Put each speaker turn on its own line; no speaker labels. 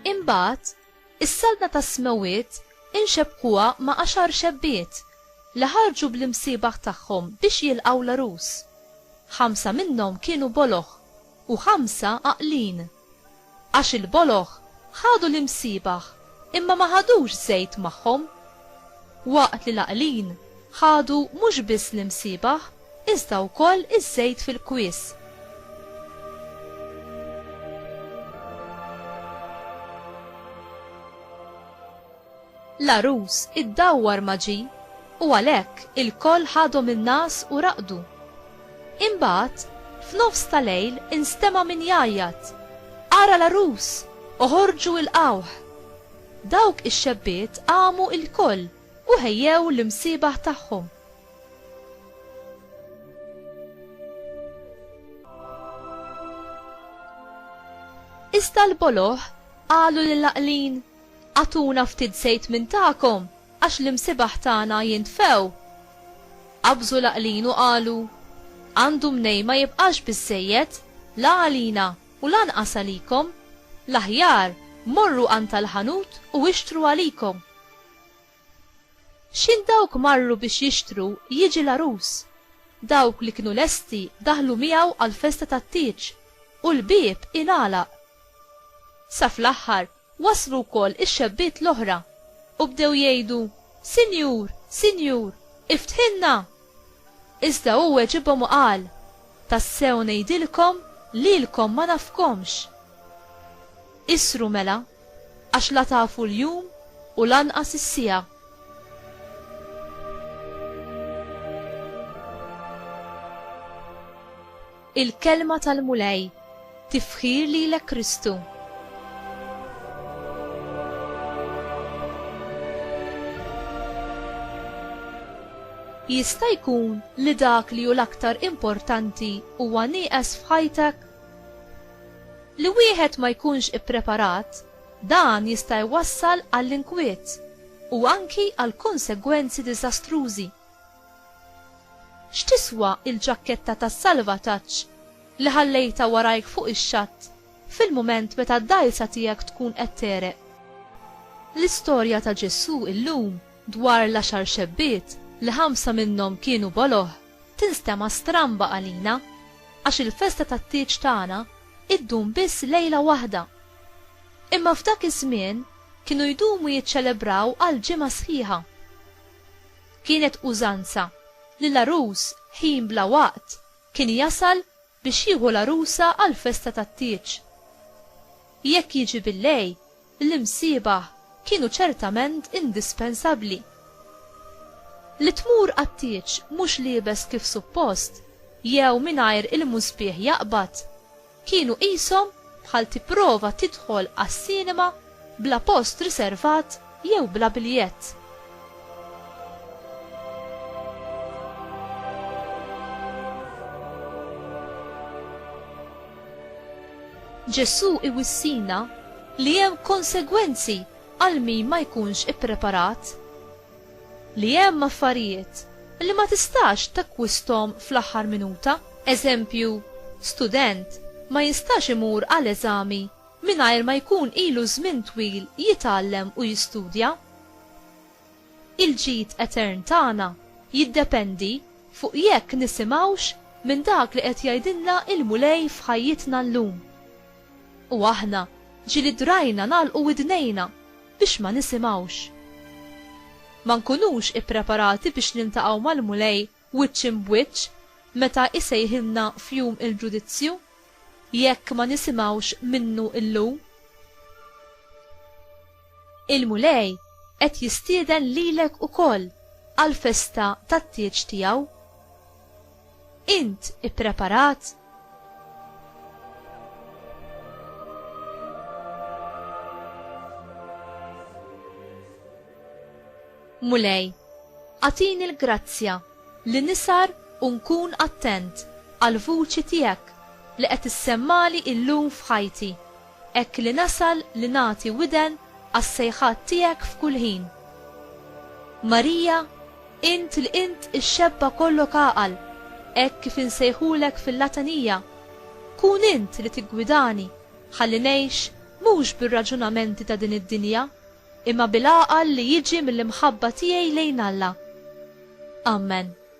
Imbagħad, is-Saltna tas-Smewwiet inxebbkuha ma' għaxar xebbiet li ħarġu bl-imsiebaħ tagħhom biex jilqgħu l-għarus. Ħamsa minnhom kienu boloh u ħamsa għaqlin. Għax il-boloh ħadu l-imsiebaħ imma ma ħadux żejt magħhom. Waqt li l-għaqlin ħadu mhux biss l-imsiebaħ iżda wkoll iż-żejt fil-kwies. L-għarus iddawwar ma' ġi u għalhekk ilkoll ħadhom in-ngħas u raqdu. Imbagħad, f'nofs ta' lejl instema' min jgħajjat, Ara l-għarus! Oħorġu ilqgħuh! Dawk ix-xebbiet qamu ilkoll u ħejjew l-imsiebaħ tagħhom. Iżda l-boloh qalu lill-għaqlin, Agħtuna ftit żejt minn tagħkom għax l-imsibaħ tagħna jintfew. Qabżu l-għaqlin u qalu, Għandu mnejn ma jibqax biżżejjed, la għalina u lanqas għalikom, l-aħjar morru għand tal-ħanut u ixtru għalikom. X'in dawk marru biex jixtru jiġi l-għarus. Dawk li kienu lesti daħlu miegħu għall-festa tat-tieġ u l-bieb ingħalaq. Sa fl-aħħar Waslu wkoll ix-xebbiet l-oħra, u bdew jgħidu, Sinjur, Sinjur, iftħilna! Iżda hu weġibhom u qal, Tassew ngħidilkom, lilkom ma nafkomx. Isru mela, għax la tafu l-jum u lanqas is-siegħa. Il-Kelma tal-Mulej, Tifħir lilek Kristu. Jista' jkun li dak li hu l-aktar importanti huwa nieqes f'ħajtek? Li wieħed ma jkunx ippreparat, dan jista' jwassal għall-inkwiet u anki għal konsegwenzi diżastrużi. X'tiswa l-ġakketta tas-salvataġġ li ħallejtha warajk fuq ix-xatt fil-mument meta d-dgħajsa tiegħek tkun qed tegħreq? L-istorja ta' Ġesù llum dwar l-għaxar xebbiet li ħamsa minnhom kienu boloh tinstema' stramba għalina għax il-festa tat-tieġ tagħna ddum biss lejla waħda. Imma f'dak iż-żmien kienu jdumu jiċċelebraw għal ġimgħa sħiħa. Kienet użanza li l-għarus ħin bla waqt kien jasal biex jieħu l-għarusa għall-festa tat-tieġ. Jekk jiġi bil-lej, l-imsiebaħ kienu ċertament indispensabbli. Li tmur għat-tieġ mhux liebes kif suppost jew mingħajr il-musbieħ jaqbad, Kienu qishom bħal tipprova tidħol għas-sinema bla post riservat jew bla biljett. Ġesù iwissina li hemm konsegwenzi għal min ma jkunx ippreparat. li hemm affarijiet li ma tistax takkwisthom fl-aħħar minuta. Eżempju, student ma jistax imur għal eżami mingħajr ma jkun ilu żmien twil jitgħallem u jistudja. Il-ġid etern tagħna jiddependi fuq jekk nisimgħux minn dak li qed jgħidilna l-Mulej f'ħajjitna llum. U aħna ġieli drajna nagħlqu widnejna. biex ma nisimgħux. Ma nkunux ippreparati biex niltaqgħu mal-Mulej wiċċ imb wiċċ meta jsejħilna f'jum il-ġudizzju, jekk ma nisimgħux minnu llum. Il-Mulej qed jistieden lilek ukoll għall-festa tat-tieġ tiegħu. Int ippreparat? Mulej, għatini l-grazzja li nisar u nkun attent għall-vuċi tiegħek li qed issemmali illum f'ħajti. Hekk li nasal li nagħti widen għas-sejħat tiegħek f'kull ħin. Marija, int li int ix-xebba kollok għaqal, hekk kif insejħulek fil-Latanija, kun int li tiggwidani ħalli ngħix mhux bir-raġunamenti ta' din id-dinja, imma bil-għaqal li jiġi mill-imħabba tiegħi lejn Alla. Amen.